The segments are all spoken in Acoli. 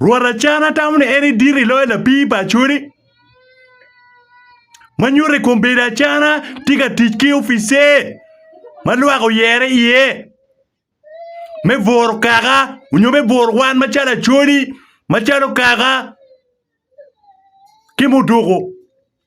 Rwot Acana tamo ni en edito i loyo lapii pa Acholi, ma nyuto i kom bedo Acana tye ka tic ki opice ma lwak oyere iye me bworo kaka nyo me bworo wan macalo Acholi, macalo kaka ki muduku.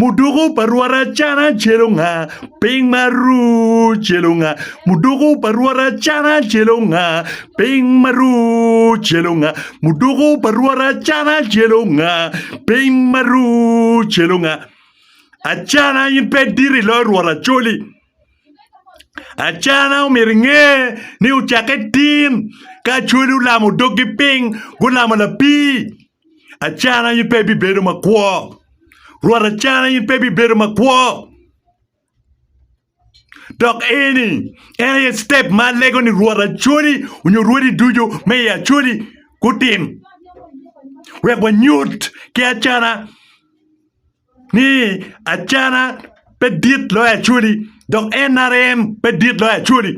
Muduku pa Rwot Acana celo nga? Piny ma ru celo nga? Muduku pa Rwot Acana celo nga? Piny ma ru celo nga? Muduku pa Rwot Acana celo nga? Piny ma ru celo nga? Acana in pe iditi loyo Rwot Acoli. Acana omyero inge ni ocakke tin ka Acoli olamo doggi piny, gulamo lapii. Acana in pe ibibedo makwo. Rwot acana in pe ibibedo makwo. Dok eni en aye step ma alego ni Rwot acwali onyo Rwodi ducu me i acwali gutim wek wanyut ki acana ni acana pe dit loyo acwali dok NRM pe dit loyo acwali.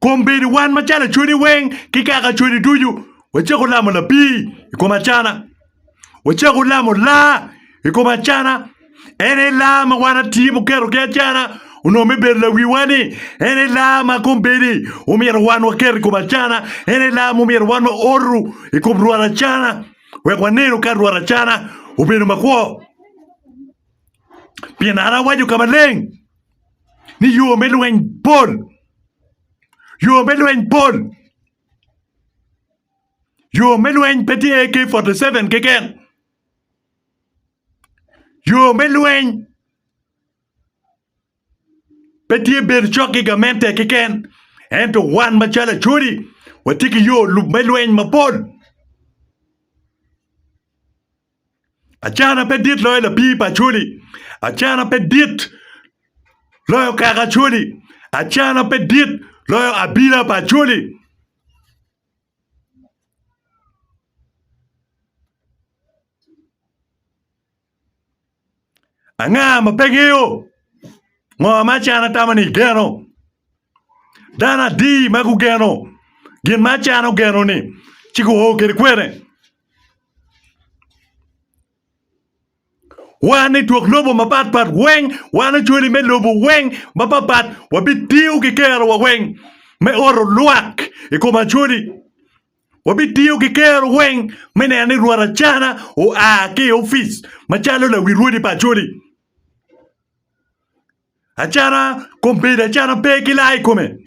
Kun bed wan macalo acwodi weng ki kaka acwodi ducu, wacako lamo labir i kom acana. Wacako lamo laa i kom acana, en aye laa ma wan atye muketo ki acana onongo me bedo lawiwa-ni, en aye laa ma kombeddi omyero wan waket i kom acana, en aye laa ma omyero wan wa oru i kom rwot acana wek wanenu ka rwot acana obedo makwo. pien an awaco ka maleng ni yo me lweny pol, yo me lweny pol, yo me lweny pe tye AK 47 keken yo me lweny pe tye bedo cok ki gamente keken ento wan macalo Acholi watye ki yo me lweny mapol. Acana pe dit loyo lapii pa Acholi, acana pe dit loyo kaka Acholi, acana pe dit loyo abila pa Acholi. Anga ma pe ngeyo ngo ma acano atamo ni igeno? Dano adi ma gugeno gin ma acano geno-ni ci guo kwede kwene? Wan i twok lobo mapatpat weng wan ocwali me lobo weng mapatpat wabitiyo ki kerowa weng me oto lwak i kom acwali. Wabitiyo ki kero weng me neno ni Rwot Acana oa ki i opic macalo lawi rwodi pa Acholi. Acana kombedo acana pe ki laa i kome.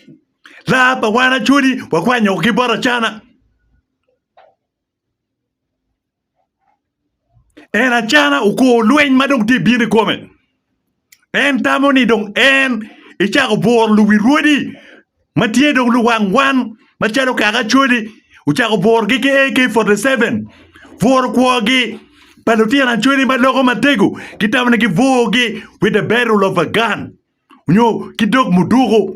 Laa pa wan Acholi wakwanyo ki bot Acana. En acana okor lweny ma dong tye ka bino i kome. En tamo ni dong en ecako bworo luwi rwodi ma tye dong luwang wan macalo kaka Acholi ocako bworogi ki AK 47 bworo kwogi pa lutino Acholi ma loko matego ki tamo ni gibworogi with the barrel of a gun nyo ki dog muduku.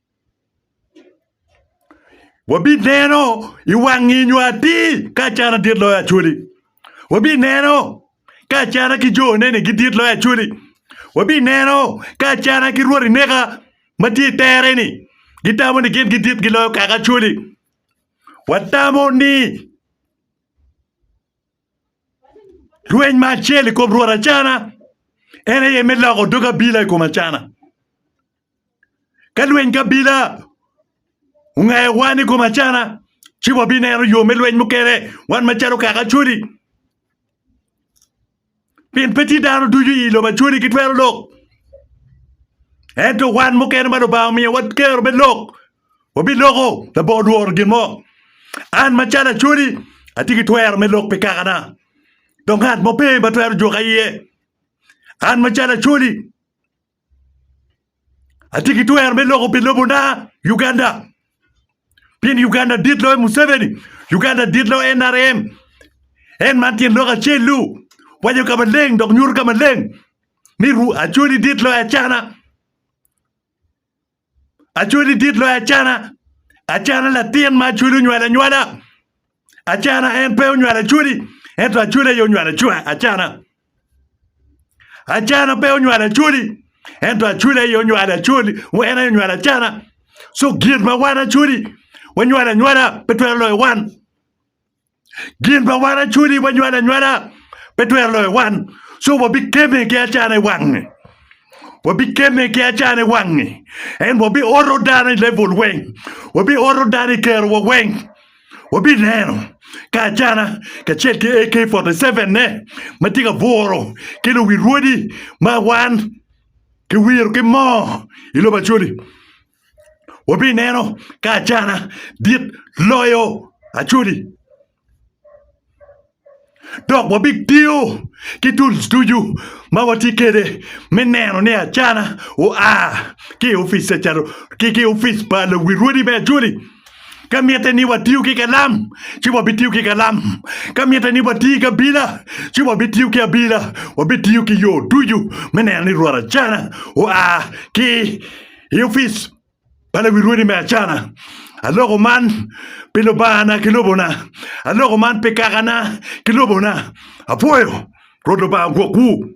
Wabineno i wang ngeyo atir ka Acata dit loyo Acholi. Wabineno ka Acata ki jone ni gidit loyo Acholi. Wabineno ka Acata ki rwot ineka ma tye i tere ni gitamo ni gin gidit giloyo kaka Acholi. Watamo ni. Rweny ma acel i kom Rwot Acana en aye me loko dog abila i kom Acana. Ka lweny kabila ongayo wan i kom Acana, ci wabineno yo me lweny mukene wan macalo kaka Acholi. Pien pe tye dano ducu i lobo Acholi gitwero lok, ento wan mukene ma Lubanga omiyowa kero me lok Wabiloko labongo lworo gin mo. An macalo Acholi atye ki twero me lok pi kakana, dok ngat mo pe ma twero juka iye. An macalo Acholi atye ki twero me loko pi lobona Uganda, pien Uganda dit loyo Museveni, Uganda dit loyo NRM. En man tyen lok acel-lu, waco ka maleng dok nyuto ka maleng ni Acholi dit loyo Acana. Acwali dit loyo Acana. Acana latin ma Acwali onywalo anywala. Acana en pe onywalo Acwali, ento Acwali aye onywalo Acana. Acana pe onywalo Acwali, ento Acwali aye onywalo Acwali, wa en aye onywalo Acana. So gin ma wan Acwali wanywalo anywala pe twero loyo wan. Gin pa wan acwali wanywalo anywala pe twero loyo wan, so wabikemme ki acana i wange. Wabikemme ki acana i wange. En wabioto dano i level weng, wabioto dano i kerowa weng. Wabineno ka acana kacel ki AK-47-ne ma tye ka buro ki luwil rwodi ma wan kiwiro ki moo i lobo acwali. wabineno ka acana dit loyo Acholi dok wabitiyo ki tools ducu ma watye kwede me neno ni acana oa ki i opic pa Calo ki i opic pa lawi rwodi me Acholi ka mitte ni watiyo ki kalam ci wabitiyo ki kalam ka mitte ni watiyo ki abila ci wabitiyo ki abila wabitiyo ki yo ducu me neno ni rwot acana oa ki I opic pa lawi rwodi me Acana, aloko man pi Lubangana ki lobona, aloko man pi kakana ki lobona. Apwoyo Rwot Lubanga gwokwu.